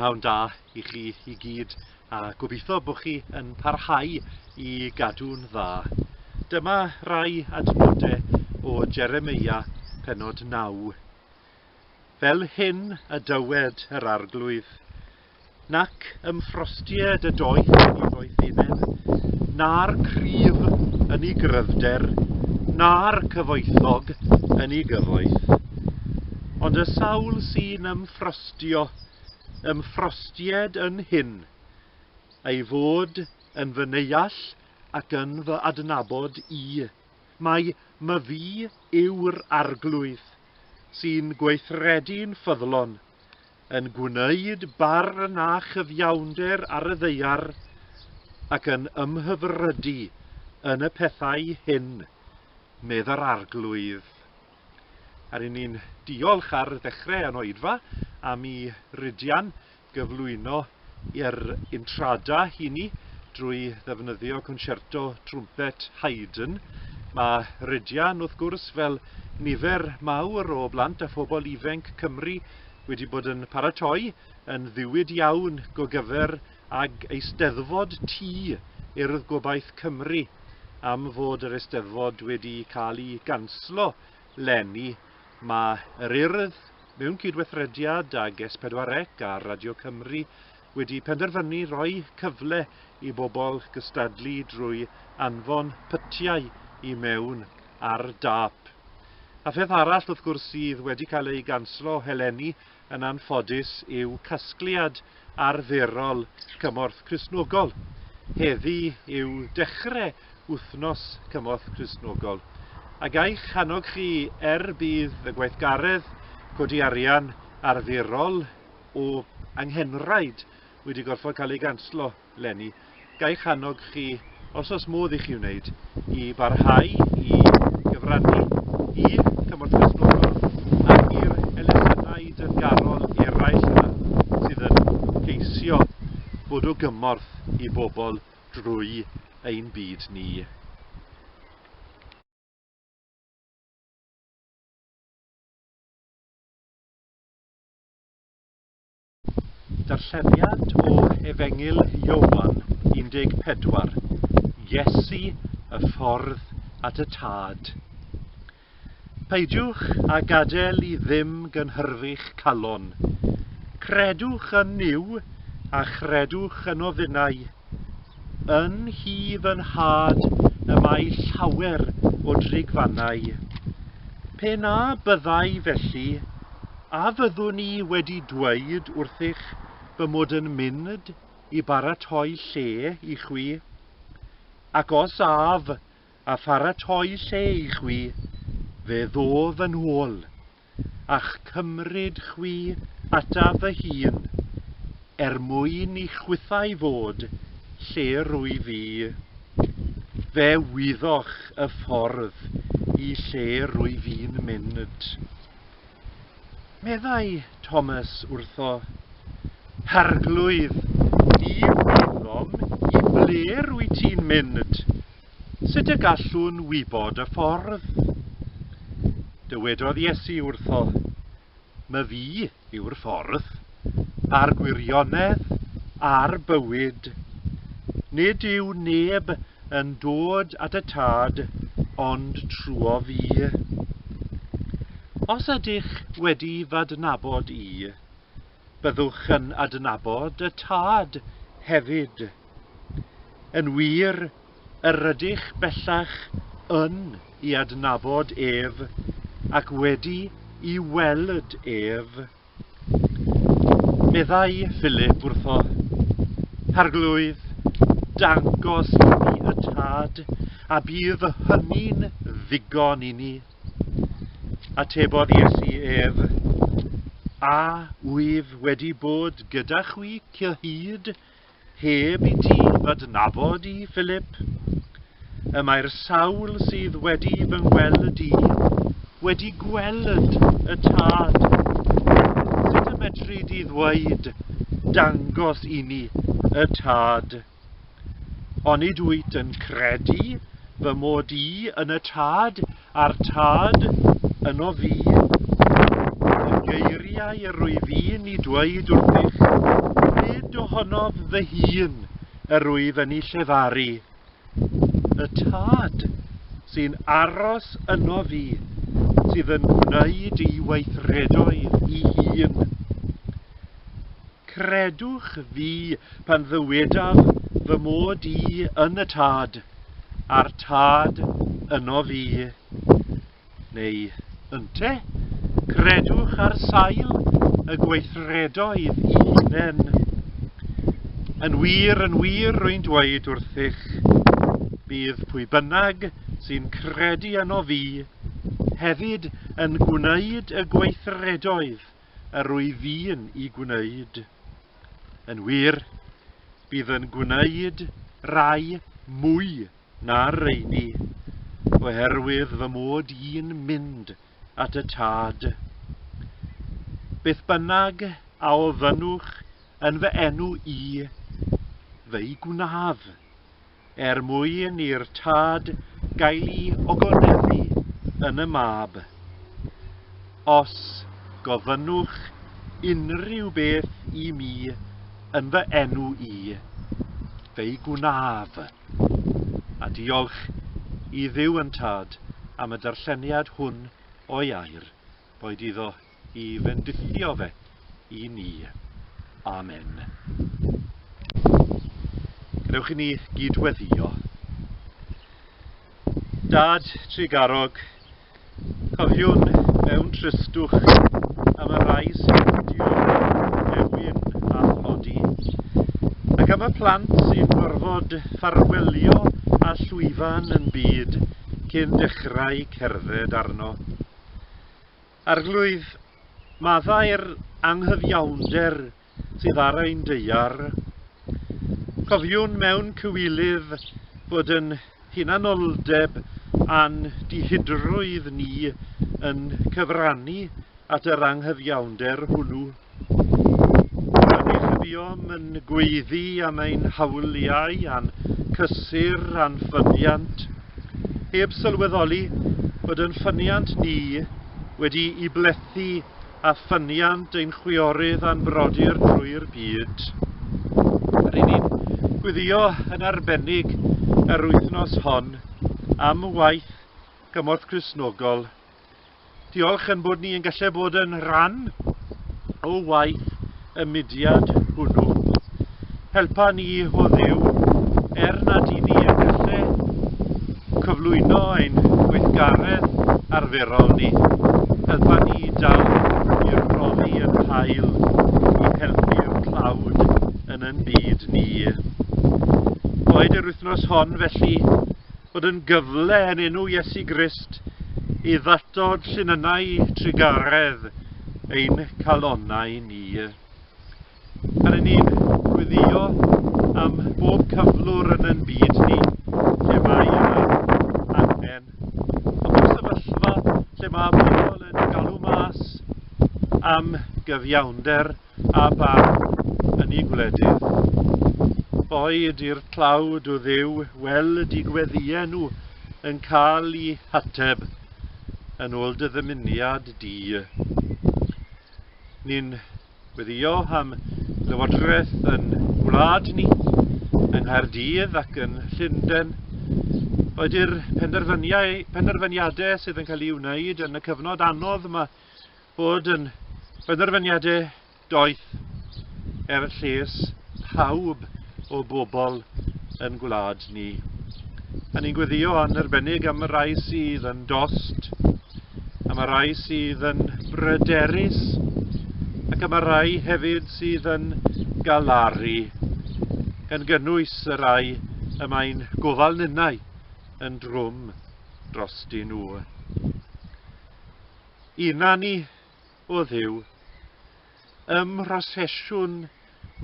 prynhawn da i chi i gyd a gobeithio bod chi yn parhau i gadw'n dda. Dyma rai adnodau o Jeremia penod 9. fel hyn a dywed yr Arglwydd, Nac ym frostied y doeth i ddoethineb, na'r cryf yn i gryfder, na'r cyfoethog yn i gyfoeth. Ond y sawl sy'n ym frostio, ym mfrostied yn hyn, ei fod yn fy neuall ac yn fy adnabod i, Mai Myfi yw'r Arglwydd sy'n gweithredu'n ffyddlon, yn gwneud barn a chyfiawnder ar y ddaear, ac yn ymhyfrydu yn y pethau hyn, medd yr Arglwydd. A ry'n ni'n diolch ar ddechrau yn oedfa am i Rhydian gyflwyno yr Intrada hini drwy ddefnyddio Concerto Trwmped Haydn. Mae Rhydian, wrth gwrs, fel nifer mawr o blant a phobl ifenc Cymru, wedi bod yn paratoi yn ddiwyd iawn go gyfer ag Eisteddfod Ti Urdd Gobaith Cymru am fod yr Eisteddfod wedi cael ei ganslo leni Mae yr Urdd, mewn cydweithrediad ag S4C a Radio Cymru, wedi penderfynu rhoi cyfle i bobl gystadlu drwy anfon pytiau i mewn ar dâp. A pheth arall wrth gwrs sydd wedi cael ei ganslo eleni Yn anffodus yw casgliad arferol Cymorth Cristnogol. Heddi yw dechre Wythnos Cymorth Cristnogol. A gai'ch hannog chi er budd y gweithgaredd codi arian arferol o anghenraid wedi gorfod cael ei ganslo. leni, ga i'ch annog chi, os oes modd i chi wneud, i barhau i gyfrannu i Cymorth Cristnogol ac i'r elusennau dyfgarol eraill yma sydd yn ceisio bod o gymorth i bobl drwy ein byd ni. Darlleniad o Efengyl Ioan 14, Iesu y ffordd at y Tad. Peidiwch a gadael i ddim gynhyrfu'ch calon. Credwch yn Nuw a chredwch yn ofynnau. Yn hi fy nhad y mae llawer o drigfannau. Pe na byddai felly, a fyddwn i wedi dweud wrthych fy mod yn mynd i baratoi lle i chwi? Ac os af a pharatoi lle i chwi, fe ddof yn ôl. a'ch cymryd chwi ataf fy hun, er mwyn i chwithau fod lle rwyf i. Fe wyddoch y ffordd i lle rwyf i'n mynd. Meddai Thomas wrtho, Arglwydd, di wyddom i ble rwyt ti'n mynd. Sut y gallwn wybod y ffordd? Dywedodd Iesu wrtho, My fi yw'r ffordd, a'r gwirionedd, a'r bywyd. Nid yw neb yn dod at y Tad ond trwyo fi. Os ydych wedi f'adnabod i, byddwch yn adnabod y Tad hefyd. Yn wir, yr ydych bellach yn i adnabod ef ac wedi i weld ef. Meddai Philip wrtho, Arglwydd, dangos i ni y Tad, a bydd hynny'n ddigon i ni. Atebodd Iesu ef, A wyf wedi bod gyda chwi cyhyd Heb i ti gydnabod i, Philip, y mae'r sawl sydd wedi fy ngweld i wedi gweld y Tad. Sut y medri di ddweud, dangos i mi y Tad? Onid wyt yn credu fy mod i yn y Tad? A'r Tad, yno fu, y geiriau yr wyf i'n eu dweud wrthych, nid ohonof fy hun yr wyf yn eu llefaru. Y Tad, sy'n aros yno fi, sydd yn gwneud ei weithredoedd i hun. Credwch fi pan ddywedaf fy mod i yn y Tad, a'r tad yno fi. Neu, ynte, credwch ar sail y gweithredoedd i hunen. Yn wir, yn wir, rwy'n dweud wrthych, bydd pwy bynnag sy'n credu yno fi hefyd yn gwneud y gweithredoedd yr wyf i'n ei gwneud. Yn wir, bydd yn gwneud rai mwy na rheini, oherwydd fy mod i'n mynd at y Tad. Beth bynnag a ofynnwch yn fy enw i, fe'i gwnaf. er mwyn i'r tad gael'i ogoneddfu yn y mab. Os gofynnwch unrhyw beth i mi yn fy enw i, fe'i gwnaf. A diolch i Dduw yn tad am y darlleniad hwn o'i air, boed iddo i fendithio fe i ni. Amen. Gadewch i ni gydweddio. Dad Trigarog, cofiwn mewn tristwch am y rai sy'n dio ewyn a thlodi, ac am y plant sy'n gorfod ffarwelio a llwyfan yn byd cyn dechrau cerdded arno. Arglwydd, maddau'r anghyfiawnder sydd ar ein deuar. Cofiwn mewn cywilydd bod yn hunanoldeb a'n dihidrwydd ni yn cyfrannu at yr anghyfiawnder hwnnw. Rydych a buom yn gweiddi am ein hawliau a'n cysur a'n ffyniant, heb sylweddoli bod yn ffyniant ni wedi'i blethu â ffyniant ein chwiorydd a'n brodyr drwy'r byd. Ry'n ni'n gweddio yn arbennig yr wythnos hon am waith cymorth Cristnogol Diolch yn bod ni yn gallu bod yn rhan o waith y mudiad hwnnw. Helpa ni o ddiw er nad i ni yn gallu cyflwyno ein gweithgaredd arferol ni. Helpa ni dal i'r brofi yn hael i helpu'r tlawd yn yn byd ni. Boed yr wythnos hon felly fod yn gyfle yn enw Iesu Grist i ddatod llinynau trugaredd ein calonau ni. Pan yn ni'n gwyddio am bob cyflwr yn yn byd ni, lle mae yna angen. Ond y sefyllfa lle mae pobl yn galw mas am gyfiawnder a barn yn y gwledydd. Boed i'r tlawd o Dduw weld i gweddiau nhw yn cael i hateb yn ôl dy ddymuniad di. Ni'n gweddio am lywodraeth yn gwlad ni, yng Nghaerdydd ac yn Llundain. Boed i'r penderfyniadau sydd yn cael ei wneud yn y cyfnod anodd mae bod yn benderfyniadau doeth er lles pawb o bobl yn gwlad ni. A ni'n gweddio yn arbennig am y rai sydd yn dost, am y rai sydd yn bryderus, ac am y rai hefyd sydd yn galaru, gan gynnwys y rai y mae'n gofal ninnau yn drwm dros dyn nhw. i nani o Dduw. Ym mhrosesiwn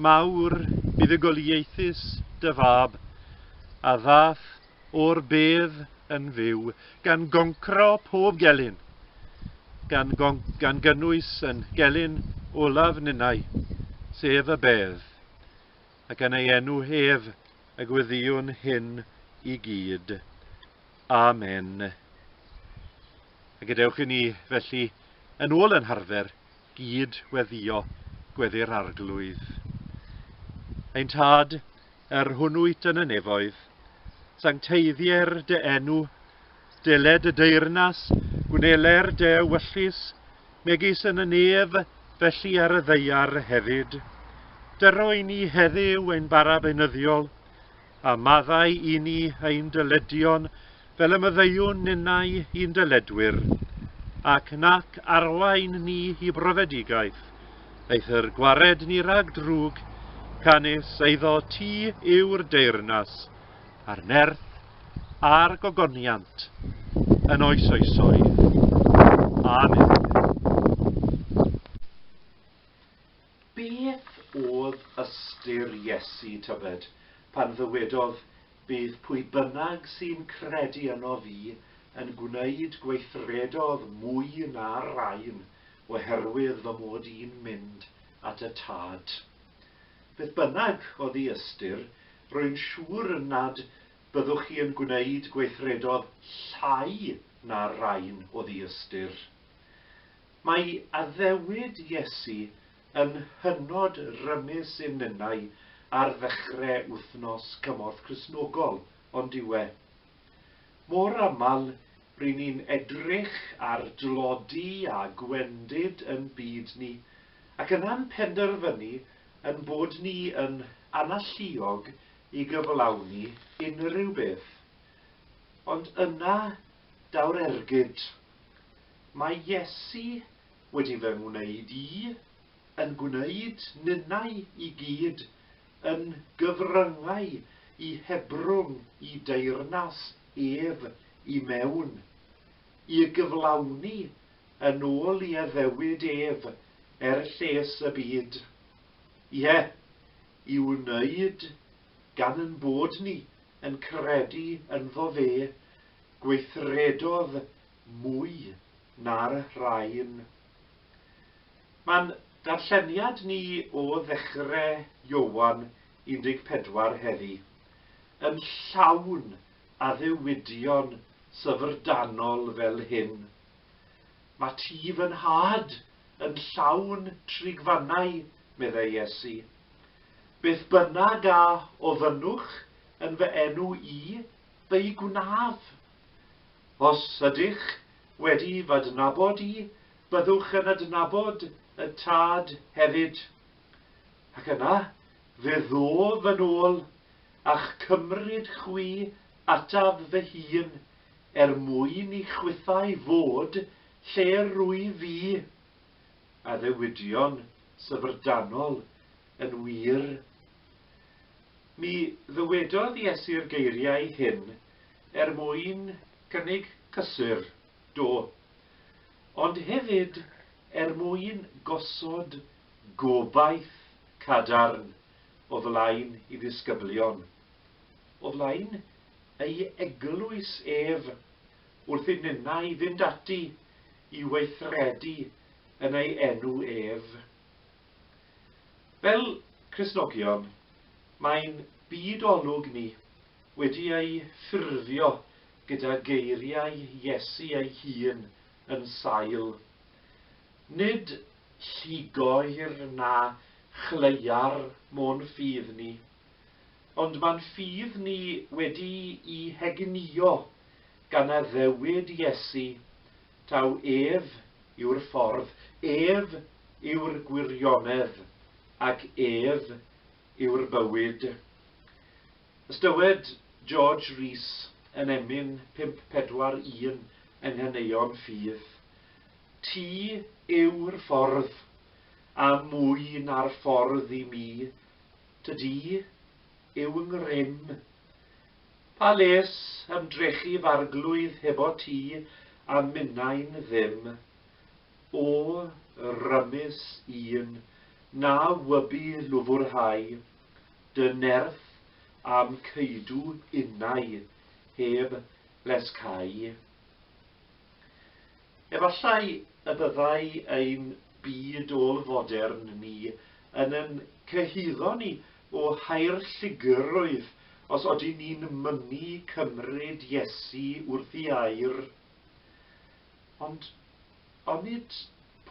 mawr buddugoliaethus dy Fab, a ddath o'r bedd yn fyw, gan goncro pob gelyn, gan, gan gynnwys yn gelyn olaf ninnau, sef y bedd, ac yn ei enw ef y gwyddiwn hyn i gyd. Amen. A gadewch i ni, felly, yn ôl yn harfer, gyd weddio gweddi'r arglwydd. Ein tad, yr hwn wyt yn y nefoedd, sancteiddier dy enw, deled y deyrnas, gwneler dy ewyllus, megis yn y nef, felly ar y ddeiar hefyd. Dyro i ni heddiw ein bara benyddiol, A maddau i ni ein dyledion fel y maddeuwn ninnau i'n dyledwyr, ac nac arwain ni i brofedigaeth, eithr gwared ni rhag drwg, canys eiddo ti yw'r deyrnas, a'r nerth, a'r gogoniant, yn oes oesoedd. Amen. Beth oedd ystyr Iesu, tybed, pan ddywedodd, Bydd pwy bynnag sy'n credu yno fi yn gwneud gweithredoedd mwy na'r rhain, oherwydd fy mod i'n mynd at y Tad? Beth bynnag oedd ei ystyr, rwy'n siŵr nad byddwch chi yn gwneud gweithredoedd llai na'r rhain oedd ei ystyr. Mae addewid Iesu yn hynod rymus in ninnau ar ddechre Wythnos Cymorth Cristnogol, ond yw e? Mor aml ry'n ni'n edrych ar dlodi a gwendid yn byd ni, ac yna'n penderfynu yn bod ni yn analluog i gyflawni unrhyw beth. Ond yna daw'r ergyd. Mae Iesu wedi fy ngwneud i, yn gwneud ninnau i gyd, yn gyfryngau i hebrwng i deyrnas ef i mewn, i'y gyflawni yn ôl i addewid ef er lles y byd. Ie, i'w wneud gan yn bod ni yn credu ynddo fe, gweithredodd mwy na'r rhain. Mae'n darlleniad ni o ddechre Ioan 14 heddi, yn llawn addewidion syfrdanol fel hyn, Mae ti fy nhad yn llawn trigfannau, meddai Iesu. Beth bynnag a ofynnwch yn fy enw i, fe'i gwnaf. Os ydych wedi f'adnabod i, byddwch yn adnabod y Tad hefyd. Ac yna fe ddof yn ôl a'ch cymryd chwi ataf fy hun, er mwyn i chwithau fod lle rwyf i. Addewidion syfrdanol yn wir. Mi ddywedodd Iesu'r geiriau hyn Er mwyn cynnig cysur, do. Ond hefyd er mwyn gosod gobaith cadarn o flaen ei ddisgyblion, o flaen ei eglwys ef, wrth i ninnau fynd ati i weithredu yn ei enw ef. Fel Cristnogion, mae'n byd olwg ni, wedi ei ffurfio gyda geiriau Iesu ei hun yn sail, Nid lligoer na chleua'r mo'n ffydd ni, ond ma'n ffydd ni wedi'i hegnïo gan addewid Iesu, taw ef yw'r ffordd, ef yw'r gwirionedd, ac ef yw'r bywyd. Os dywed George Rees yn emyn 541 yng Nghaneuon Ffydd, Ti yw'r ffordd, a mwy na'r ffordd i mi, tydi, yw 'ngrym. Pa les ymdrechu f'arglwydd hebot ti a minnau'n ddim? O, rymus un, na wybu lwfwrhau. dy nerth a'm ceudw innau heb les cau. Efallai y byddai ein byd ôl-fodern ni yn yn cyhuddo ni o hau'r llugrwydd os odyn ni'n mynnu cymryd Iesu wrth i air. Ond onid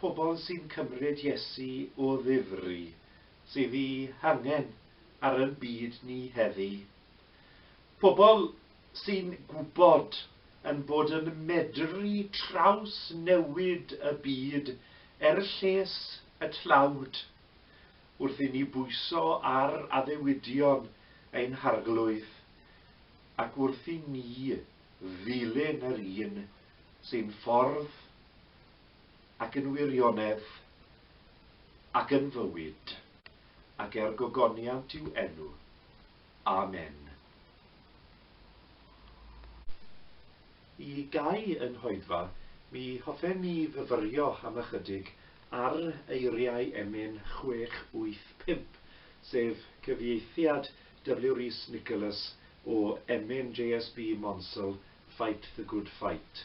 pobl sy'n cymryd Iesu o ddifri sydd eu hangen ar ein byd ni heddi. Pobl sy'n gwybod ein bod yn medru trawsnewid y byd er lles y tlawd, wrth i ni bwyso ar addewidion ein harglwydd, ac wrth i ni ddilyn yr un sy'n ffordd ac yn wirionedd, ac yn fywyd, ac er gogoniant i'w enw. Amen. Y Gai yn Nghoedfa, mi hoffem i fyfyrio am ychydig ar eiriau emyn 685, sef cyfieithiad W. Rees Nicholas o emyn JSB Monsell, Fight the Good Fight.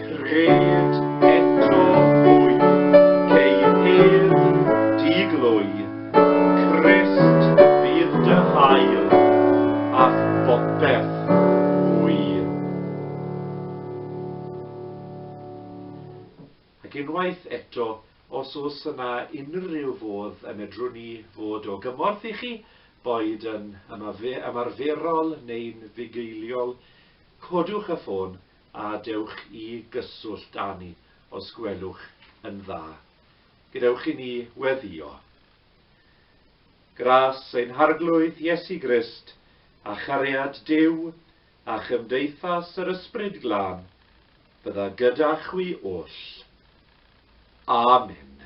Rhed eto hwy, ceir hedd, di glwy, Crist fydd dy hael, a'th bopeth fwy. Ac unwaith eto, os oes yna unrhyw fodd y medrwn ni fod o gymorth i chi, boed yn ymarferol neu'n fugeiliol, codwch y ffôn a dewch i gyswllt â ni os gwelwch yn dda. Gadewch i ni weddio. Gras ein Harglwydd Iesu Grist, a chariad Duw, a chymdeithas yr Ysbryd Glân, bydda gyda chwi oll. Amen.